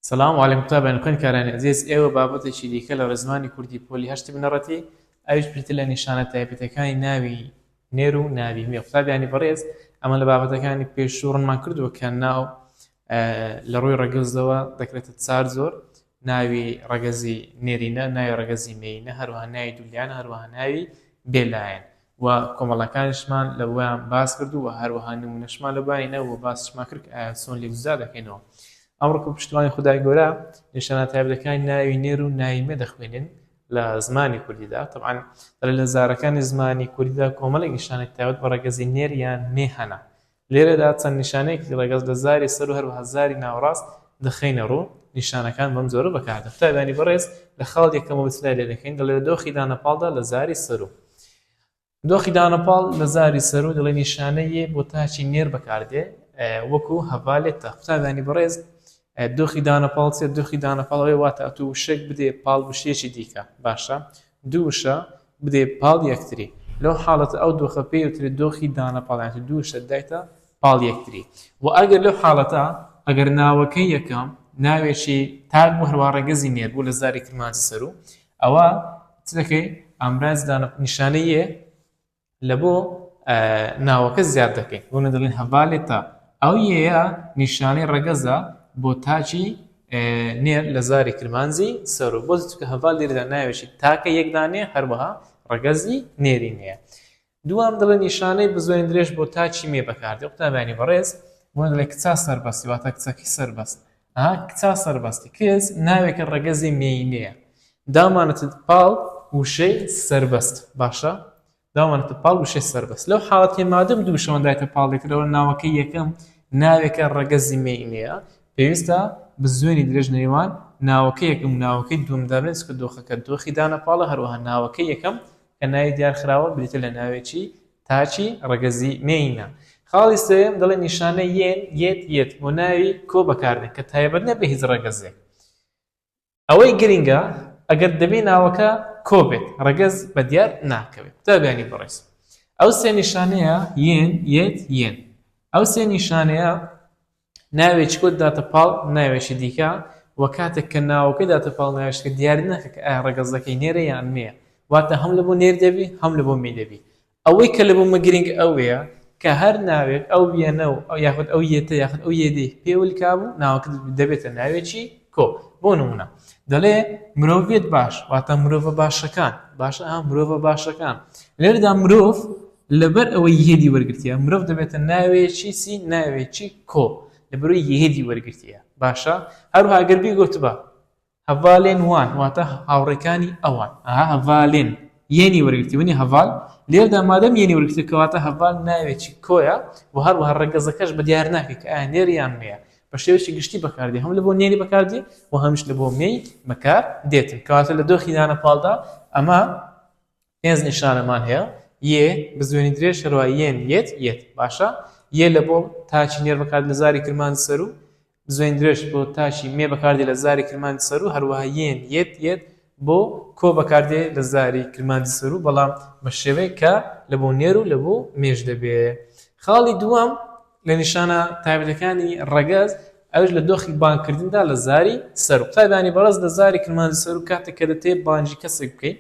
سلام علیکم تابان خوێن کارانی ئەزیز ئێوە بابەتێکی دیکە لە ڕێزمانی کوردی پۆلی هەشتی بنەڕەتی ئەویش پرتە لە نیشانە تایبەتەکانی ناوی نێر و ناوی مێ قوتابیانی بەڕێز ئەمە لە بابەتەکانی پێشوو ڕنمان کردووە کە ناو لە ڕووی ڕەگەزەوە دەکرێتە چار زۆر ناوی ڕەگەزی نێرینە ناوی ڕەگەزی مێینە هەروە ناوی دولیان هەروە ناوی بێلایەن و کۆمەڵەکانیشمان لە بۆیان باس کرد و هەروەها نمونەشمان لە بۆیان هینا و باسیشمان کرد کە ئایا چۆن لێک جودا دەکەینەوە ئەمڕۆ کە پشتوانی خودای گەورە نیشانە تایبەتەکانی ناوی نێر و ناوی مێ دەخوێنین لە زمانی کوردیدا طبعا لە زارەکانی زمانی کوردیدا کۆمەڵێک نیشانەی تایبەت بە ڕەگەزی نێر یان مێ هەنە لێرەدا چەند نیشانەیەکی ڕەگەز لە زاری سەر و هەروەها زاری ناوەڕاست دەخەینە ڕوو، نیشانەکان بەم جۆرە بەکاردێن. قوتابیانی بەڕێز لە خاڵ یەکەمەوە چلای لێ دەکەین، دەڵێ لە دۆخی دانەپاڵدا لە زاری سەروو. دۆخی دانەپاڵ لە زاری سەروو دەڵێ نیشانە یێ بۆ تاکی نێر بەکاردێ وەکوو هەڤالێتە. قوتابیانی بەڕێز دۆخی دانەپاڵ چییە؟ دۆخی دانەپاڵ ئەوەیە واتە ئەتوو وشەیەک بدەیە پاڵ وشەیەکی دیکە، باشە؟ دوو وشە بدەی پاڵ یەکتری لەو حاڵەتە ئەو دۆخە پێی ئەوترێ دۆخی دانە پاڵ یان دوو وشە دایتە پاڵ یەکتری وە ئەگەر لەو حاڵەتە ئەگەر ناوەکەی یەکەم ناوێکی تاک بوو هەروە ڕەگەزی نێر بوو لە زاری کرمانجی سەرو ئەوە چ دەکەی ئامراز دانە نیشانەیە لە بۆ ناوەکە زیاد دەکەین بۆ نەدەڵین هەڤالی تا ئەو یەیە نیشانەی ڕەگەزە بۆ تاچی نێر لە زاری کرمانجی سەر و بۆ چکە هەڤال لێرەدا ناوێکی تاکە یەکدانێ هەروەها ڕەگەزی نێری نیە دوام دڵە نیشانەی بزۆین درێژ بۆ تاچی مێ بەکاردێ قوتابیانی بەڕێز بۆ دڵێک کچا سەربەستی واتە کچەکی سەربەست ها کچا سەربەستی کچ ناوێکە ڕەگەزی مێینەیە دامانەتت پاڵ وشەی سەربەست باشە دامانەتە پاڵ وشەی سەربەست لەو حاڵەتی مادەم دوو شەوەن دایتە پاڵێکرەوە ناوەکە یەکەم ناوێکە ڕەگەزی مێینەیە پێویستە بزوێنی درێژ نێوان ناوەکە یەکەم ناوەکەی دومدارێت کە دۆخەکە دۆخی دانە پاڵە هەروەها ناوەکە یەکەم کە ناوی دیار خراوە بریتیە لە ناوێکی تاکی ڕەگەزی مێینە. خاڵی سێیەم دەڵێ نیشانە یێن، یێت، یێت بۆ ناوی کۆ بەکاردێن کە تایبەت نیە بە هیچ ڕەگەزێک. ئەوەی گرینگە ئەگەر دەبی ناوەکە کۆ بێت ڕەگەز بە دیار ناکەوێت. قوتابیانی بەڕێز ئەو سێ نیشانەیە، یێن، یێت، یێن، ئەو سێ نیشانەیە ناوێکی کۆد داتە پاڵ ناوێکی دیکە و کاتێک کە ناوەکە داتە پاڵ ناوێکیکە دیاری ناکە کە ئایا ڕەگەزەکەی نێرە یان مێیە واتە هەم لەبۆ نێر دەبی هەم لەبۆ مێ دەبی ئەوەی کە لەبۆ مە گرینگ ئەوەیە کە هەر ناوێک ئەو وێنە و یاخود ئەو یێتە یاخود ئەو یێدەی پێ ولکا بوو ناوەکە دەبێتە ناوێکی کۆ بۆ نمونە دەڵێ مرۆڤێت باش واتە مرۆڤە باشەکان باشە مرۆڤە باشەکان لێرەدا مرۆڤ لەبەر ئەوەی یهدی وەرگرتیە مرۆڤ دەبێتە ناوێکی چی ناوێکی کۆ لەبەرەوەی یهدی وەرگرتیە باشە هەروها گەر بیگوتبا هەڤالێن وان واتە هاوڕێکانی ئەوان ئەها هەڤالێن یەنی وەرگرتی ونی هەڤال لێردا مادەم یەنی وەرگرتی کەواتە هەڤال ناوێکی کۆیە و هەروها ڕەگەزەکەش بە دیار ناکە کە ئایا نێر یان مێیە بە شێوەیەکی گشتی بەکاردێ هەم لە بۆ نێری بەکاردێ و هەمیش لە بۆ مێی بەکار دێتن کەواتە لە دۆخی دانە پاڵدا ئەمە پێنج نیشانەمان هەیە، یێ، بزوێنی درێژ هەروەها یێن، یێت، یێت. باشە، یێ لە بۆ تاکی نێر بەکاردێت لە زاری کرمانجی سەروو، بزوێنی درێژ بۆ تاکی مێ بەکاردێت لە زاری کرمانجی سەروو، هەروەها یێن، یێت، یێت، بۆ کۆ بەکاردێت لە زاری کرمانجی سەروو، بەڵام بە شێوەیەک کە لە بۆ نێر و لە بۆ مێش دەبێت. خاڵی دووەم لە نیشانە تایبەتەکانی ڕەگەز، ئەویش لە دۆخی بانگکردندا لە زاری سەروو. قوتابیانی بەڕێز لە زاری کرمانجی سەروو کاتێک کە دەتەوێت بانگی کەسێک بکەیت،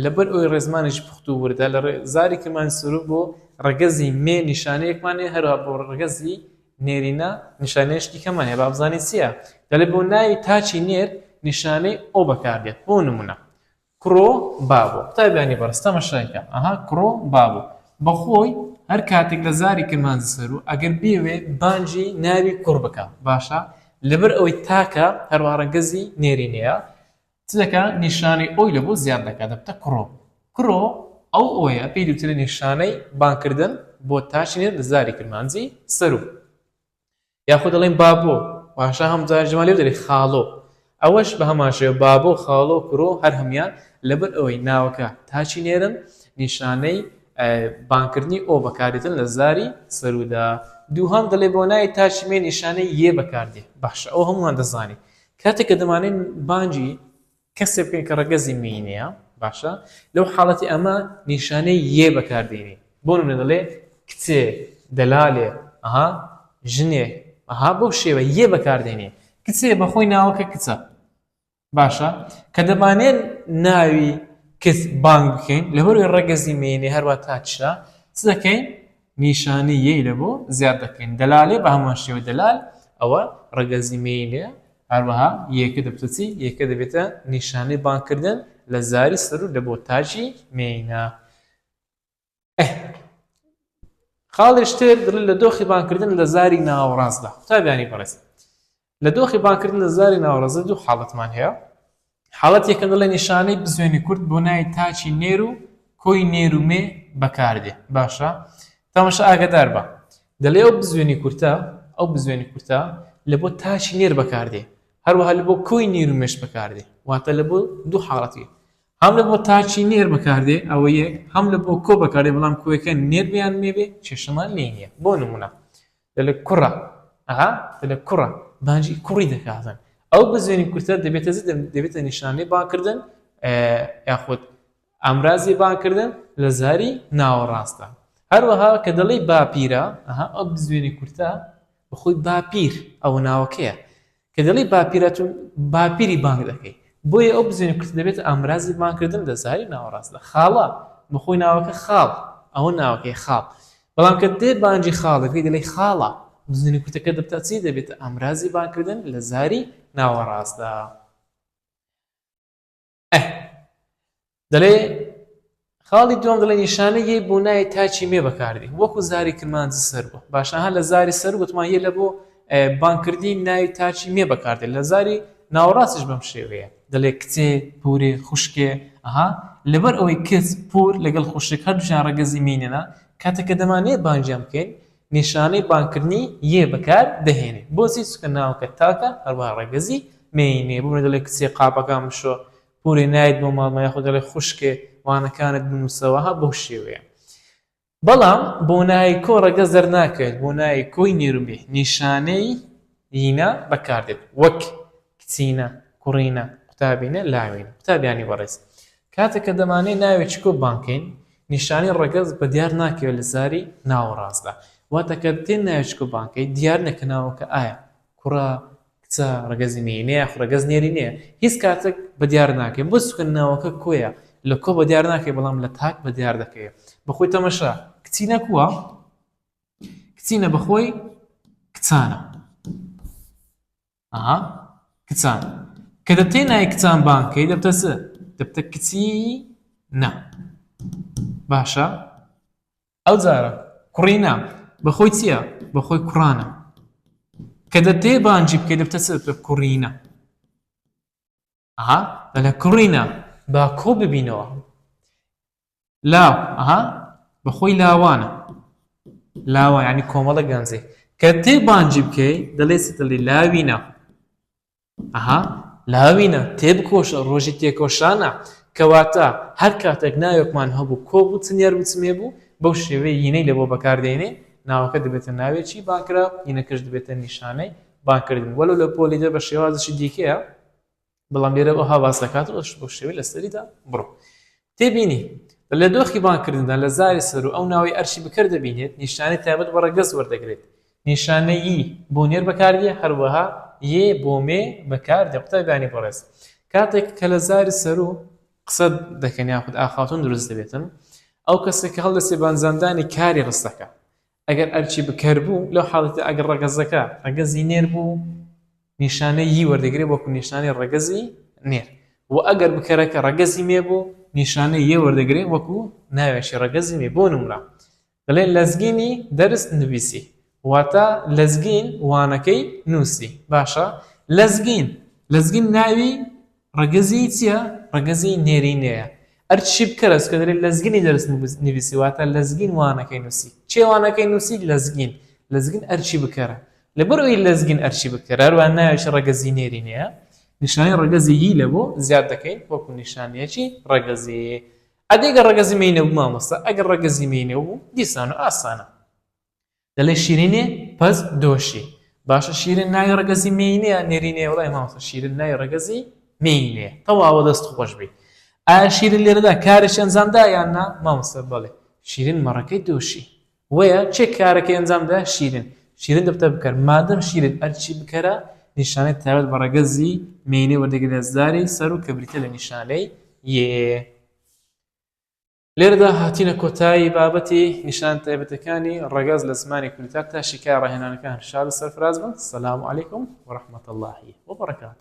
لەبەر ئەوی ڕێزمانێکی پوخت و وردە لە زاری کەمان سروو بۆ ڕەگەزی مێ نیشانەیەکمانێ هەروە بۆ ڕگەزی نێرینە نیشانێشتی کەمانێ بابزانانی چییە دەلێ بۆ ناوی تاچی نێر نیشانەی ئەو بەکاردێت بۆ نمونە کڕۆ بابۆ قوتابیانی بەرستەمە شایکە ئەها کڕۆ بابوو بەخۆی هەر کاتێک لە زاری کرمانج سەر و ئەگەر بێوێ بانجی ناوی کوڕ بکە باشە لەبەر ئەوەی تاکە هەروارە گەزی نێرینەیە چ دەکا نیشانەی ئۆی لە بۆ زیاد دەکا دەبتە کرۆ کرۆ ئەو ئۆیە پێی دوترێ نیشانەی بانکردن بۆ تاچی نێر لە زاری کرمانجی سەرو یاخود دەڵێن بابۆ واشە هەم جار جمالێ دەێ خاڵۆ ئەوەش بە هەماشێ بابۆ خاڵۆ کرۆ هەر هەمان لەبەر ئەوەی ناوەکە تاچی نێرن نیشانەی بانکردنی ئەو بەکارێتن لە زاری سەرودا دووهام دەڵێ بۆ نای تاچمێ نیشانەی یێ بەکاردێ باشە ئەو هەمووان دەزانانی کاتێک کە دەمانەوێت بانگی کەسێک بکەین کە ڕەگەزی میی نییە، باشە لەو حاڵەتی ئەمە نیشانەی یێ بەکار دێنین. بۆ نموونە دەڵێ کچێ، دەلالێ، ئەها، ژنێ، ئەها، بەو شێوەیە یێ بەکار دێنین. کچێ بە خۆی ناوەکە کچە. باشە کە دەمانەوێت ناوی کچ بانگ بکەین، لەبەر ئەوەی ڕەگەزی میی نییە، هەروا تاچشە، چ دەکەین؟ نیشانی یەی لە بۆ زیاد دەکەین دەلالێ بە هەمان شێوە دەلال ئەوە ڕەگەزی مێینێ هەروەها یەکە دەبتە چی یەکە دەبێتە نیشانەی بانکردن لە زاری سەر و لە بۆ تاجی مێینە خاڵێشتر دڵ لە دۆخی بانکردن لە زاری ناوەڕاستدا قوتابیانی بەڕێز لە دۆخی بانگکردن لە زاری ناوەڕاست دوو حاڵەتمان هەیە، حاڵەتی یەکەم دەڵێ نیشانەی بزوێنی کورت بۆ ناوی تاچی نێر و کۆی نێر و مێ بەکار دێ باشە تەمەشا ئاگەدار بە دەلێ ئەو بزوێنی کورتە ئەو بزوێنی کورتە لە بۆ تاچی نێر بەکار دێ هەروەها لە بۆ کۆی نێر و مێش بەکار دێ واتە لە بۆ دوو حاڵەتی هەم لە بۆ تاچی نێر بەکار دێ ئەوە یەک هەم لە بۆ کۆ بەکار دێ بەڵام کۆیەکە نێر بیان مێ بێ کێشەمان لێ نییە بۆ نمونە دەلێ کوڕە ئەها دەلێ کوڕە بانجی کوڕی دەکاتن ئەو بزوێنی کورتە دەبێتە دەبێتە نیشانەی باکردن یاخود ئامرازی باکردن لە زاری ناوەڕاستە هەروەها کە دەڵی باپیرە ئەها ئەو بزوێنی کورتە بەخۆی باپیر ئەوە ناوەکەیە کە دەڵێی باپیرە تۆ باپیری بانگ دەکەی بۆیە ئەو بزوێنە کورتە دەبێتە ئامرازی بانگکردن لە زاری ناوەڕاستدا خاڵە بە خۆی ناوەکە خاڵ ئەوە ناوەکەی خاڵ بەڵام کە دێ بانگی خاڵ دەکەی دەڵێی خاڵە بزوێنە کورتەکە دەبتە چی دەبێتە ئامرازی بانگکردن لە زاری ناوەڕاستدا ئه دەلێ خاڵی دوم دەڵێ نیشانەی یەی بۆ نایە تاچی مێ بەکاردی وەکو زاری کرمانج سەر بوو باشەها لە زاری سەر گوتمان یە لە بۆ بانکردی ناوی تاچی مێ بەکاردێت لە زاری ناوەڕاستش بەم شێوەیە دەلێ کچێ پورێ خوشکێ ئەها لەبەر ئەوەی کچ پور لەگەڵ خوشک هەردووشیان ڕەگەزی مینەنە کاتەکە دەمانەیە بانگیان بکەین نیشانەی بانگکردنی یێ بەکار دەهێنێت بۆچی چونکە ناوەکە تاکە هەروەها ڕەگەزی مێی نیە بۆ منە دەڵێ کچێ قاپەکان بشۆ پورێ نایت بۆ ماڵمان یاخود دەڵێ خوشکێ وانەکانت بنوسەوە ها بەو شێوەیە بەڵام بۆ نایکۆ ڕەگەز دەرناکەوێت بۆ نایکۆی نێرومێ نیشانەی دینا بەکاردێت وەک، کچینە، کوڕینە، قوتابینە، لاوینە. قوتابیانی بەڕێز، کاتێک کە دەمانەوێت ناوێکی کۆپبان بکەین، نیشانەی ڕەگەز بە دیار ناکەوێت لە زاری ناوەڕاستدا. واتە کە دێت ناوێکی کۆپبان بکەین، دیار نییە کە ناوەکە ئایا کوڕە، کچە، ڕەگەزی مێینەیە یاخود ڕەگەز نێرینەیە. هیچ کاتێک بە دیار ناکەین. بۆ چونکە ناوەکە کۆیە، لە کۆ بە دیار ناکەوێت، بەڵام لە تاک بە دیار دەکەوێت. بە خۆی تەمەشا، کچینە کووە؟ کچینە بەخۆی کچانە ئەها کچان کە دەتێ نای کچان بانکەی دەبتە چ دەبتە کچی نا باشە ئەو جارە کوڕی نا بەخۆی چییە بەخۆی کوڕانە کە دەتێ بانجی بکەی دەبتە چ دەبتە کوڕینە ئەها بەلە کوڕینە با کۆ ببینەوە لاو ئەها بەخۆی لاوانە لاوان ینی کۆمەڵە گەنجێ کە تێ بانجی بکەی دەڵێ دڵی لاوینە ئەها لاوینە تێبکۆشە ڕۆژی تێکۆشانە کەواتە هەر کاتێک ناوێکمان هەبوو کۆ بوو چنیار وچمێ بوو بەو شێوەی یینەی لە بۆ بەکاردێنێ ناوەکە دەبێتە ناوێکی بانکرا یینەکەش دەبێتە نیشانەی بانکردن وەلو لە پۆلی دە بە شێوازشی دیکەیە بەڵام لێرە ئەوها باس دەکات ئەوش بۆ شێوی لەسەریدا بڕۆ تێبینی لە دۆخی بانکردندا لە زاری سەر و ئەو ناوەی ئەرشی بکرد دەبینێت نیشانەی تایبەت بە ڕەگەز وەردەگرێت نیشانەیی بۆ نێر بەکاردیە هەروەها یێ بۆ مێ بەکار دە قوتابیانی بەڕێز کاتێک کە لە زاری سەر و قسە دەکەن یاخود ئاخاتون دروست دەبێتن ئەو کەسێک هەڵدەسێ بانزاندانی کاری ڕستەکە ئەگەر ئەرکی بکەر بوو، لەو حاڵەتەدا ئەگەر ڕەگەزەکە ڕەگەزی نێر بوو، نیشانەی ی وەردەگرێت وەکو نیشانەی ڕەگەزی نێر، وە ئەگەر بکەرەکە ڕەگەزی مێ بوو، نیشانەی یە وەردەگرێت وەکو ناوێکی ڕەگەزی مێ، بۆ نموونە دەڵێن لەزگینی دەرس نڤیسی واتە لەزگین وانەکەی نووسی، باشە لەزگین لەزگین ناوی ڕەگەزیی چییە؟ ڕەگەزیی نێرینەیە. ئەرچی بکەرەوس کە دەلێ لەزگینی دەرس نڤیسی واتە لەزگین وانەکەی نووسی. کێ وانەکەی نووسی؟ لەزگین. لەزگین ئەرکی بکەرە. لەبەرئەوەی لەزگین ئەرکی بکەرە هەروەها ناوێکی ڕەگەزیی نێرینەیە، نیشانەی ڕەگەزی ی لە بۆ زیاد دەکەین وەکوو نیشانەیەکی ڕەگەزیی. ئەدی گەر ڕەگەزی مێینە بوو مامۆستا؟ ئەگەر ڕەگەزی مێینە بوو دیسان و ئاسانە. دەلێ شیرینێ پەس دۆشی. باشە شیرن ناوی ڕەگەزی مێینەیە نێرینەیە وڵای مامۆستا شیرن ناوی ڕەگەزی مێینەیە تەواوە دەست خۆش بی ئایا شیرن لێرەدا کارێکی ئەنجامدا یان نا مامۆستا بەڵێ شیرن مەڕەکەی دۆشی وەیە چێ کارەکەی ئەنجامدا شیرن شیرن دەبتە بکەر مادەم شیرن ئەرچی بکەرە نیشانەی تایبەت بە ڕەگەزی مێینەی وەردەگرێت زاری سەر و کە بریتە لە نیشانەی یێ لێرەدا هاتینە کۆتایی بابەتی نیشان تایبەتەکانی ڕەگەز لە زمانی کوردیتا تا شیکای ڕاهێنانەکە هەر شاد و سەرفراز بن سلام علیکم وەرحمەت اللهی وبڕکات